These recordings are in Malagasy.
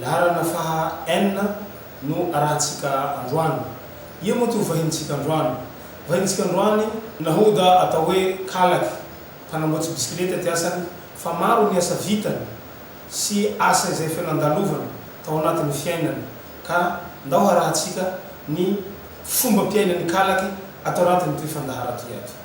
Laharana faha enina no arahintsika androany. Ia moa ity ho vahinintsika androany? Vahinintsika androany. Nahoda atao hoe Kalaky, mpanamboatsy bisikileta ty asany fa maro ny asa vitany sy asa izay efa nandalovany tao anatin'ny fiainany ka ndao harahintsika ny fombam-piainan'i Kalaky ato anatin'ity fandaharan-tohiato.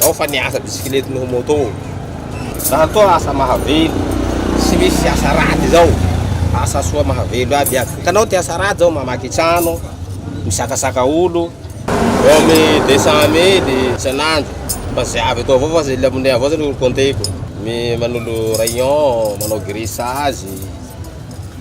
Zao fa ny asa bisikilety noho moto. Zany toa asa mahavelo. Tsy misy asa raty izao. Asa soa mahavelo aby aby. Hitanao ty asa raty zao mamaky trano, misakasaka olo. Eo amin deux cent mille isanandro. Fa ze avy eto avao fa ze le money avao zany ro compter-ko. Manolo rayon, manao grissage.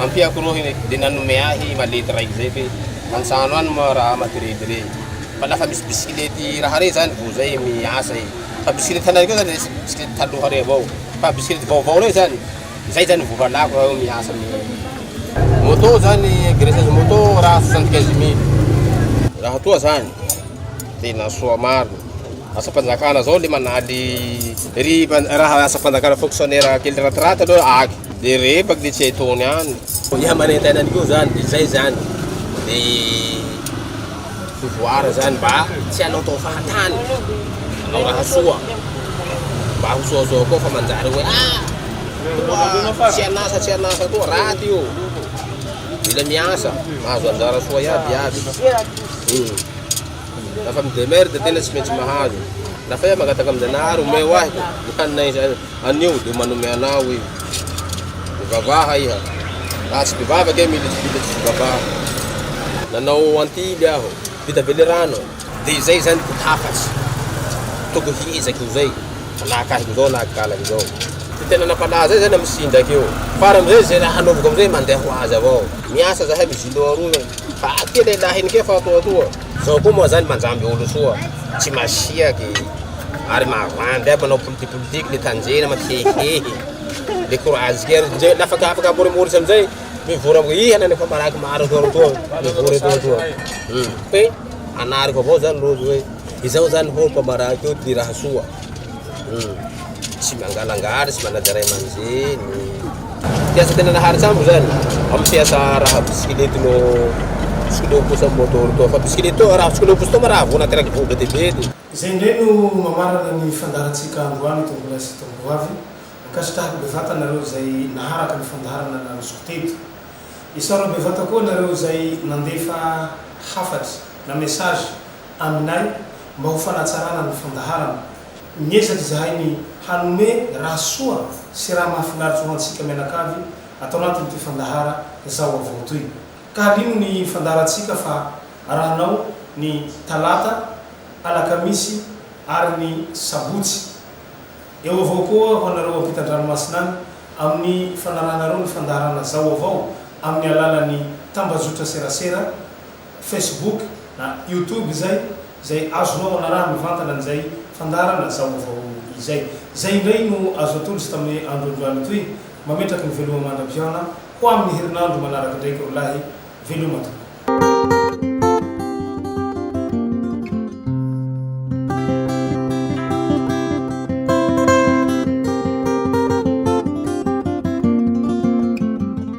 Ampiako rohy hoe dia nanome ahy malety raiky zay fe antsano any moa raha amako rey de rey fa lafa misy bisikilety raha rey zany vo zay miasa e fa bisikilety tanareo zany resy bisikilety taloha rey avao fa bisikilety vaovao rey zany zay zany vo halako raha miasa amin'ny moto zany graissage moto raha soixante quinze mille raha toa zany tena soa marina. Asam-panjakana zao le manaly ry raha asam-panjakana fonctionnaire kely ratiraty aloha aky de rehefaky le tsy hay taony any dia manentana an'io zany de zay zany de pouvoir zany mba tsy anaotao fahatany anao raha soa mba ho soasoa koa fa manjary hoe ah toa tsy anasa tsy anasa toa raty io mila miasa mahazo anjara soa iaby iaby hmm. Lafa mi demerde tena tsy maintsy mahazo. Lafa iha mangataka amin'Janahary omeo ahy ny hanina izay anio dia manome anao io. Mivavaha iha. Raha tsy mpivavaka iha militsy vita tsisy vavaha. Nanao antily aho. Vita be le rano. Dia izay zany ko hafatsy. Tokony hiezaka eo zay. Alaka ahy izao na ankalany izao. Dia tena nampalaza ahy zany amin'ny tsinjaka io. Faran'izay izay raha hanaovako amin'izay mandeha ho azy avao. Miasa zahay mizilo aroa. Faty e lehilahy ny kefa toa toa. Zao koa moa zany manjamby olo soa, tsy masiaky e. Ary mavandy aby manao politique politique le tanjena mantsy hehihehy. Le courage kely ndre la afaka afaka amorimory samizay mivory am iiih anany efa malaky maro toa ry toa mivory etoa toa. Hum fe anariko avao zany rojo hoe izao zany hoo mpamaraky io ty raha soa. Hum. Tsy mangalangala, tsy manaja ray aman-dreny. Mpiasa tena naharitsambo izany amin'ny mpiasa araha bisikilety no tsikileho pousse amin'ny môtôro toa fa bisikilety araha tsikileho pousse toa ma raha voana ateraky vohoka dia be dia. Izay indray no mamarana ny fandaharantsika androany tompolahy sy tompoavy. Ankasitrahako bevata anareo izay naharaka ny fandaharana nanosiko teto. Isaorako bevata koa anareo izay nandefa hafatra na message aminay mba ho fanatsarana ny fandaharana. Miezaka izahay ny hanome raha soa sy raha mahafinaritra ho antsika mianakavy ato anatin'ity fandahara Zao Avao toy. Ka halino ny fandaharantsika fa arahanao ny Talata, Alakamisy ary ny Sabotsy. Eo avao koa ho anareo ampitan-dranomasina any amin'ny fanarahanareo ny fandaharana Zao Avao amin'ny alalan'ny tambajotra serasera Facebook na YouTube izay, izay azonao anarahana mivantana an'izay fandaharana zaovao izay. Izay indray no azo atolotra tamin'ny andro androany toy, Mametraky ny veloma mandra-pihaona ho amin'ny herinandro manaraka indraiky ry lahy, veloma tompoko.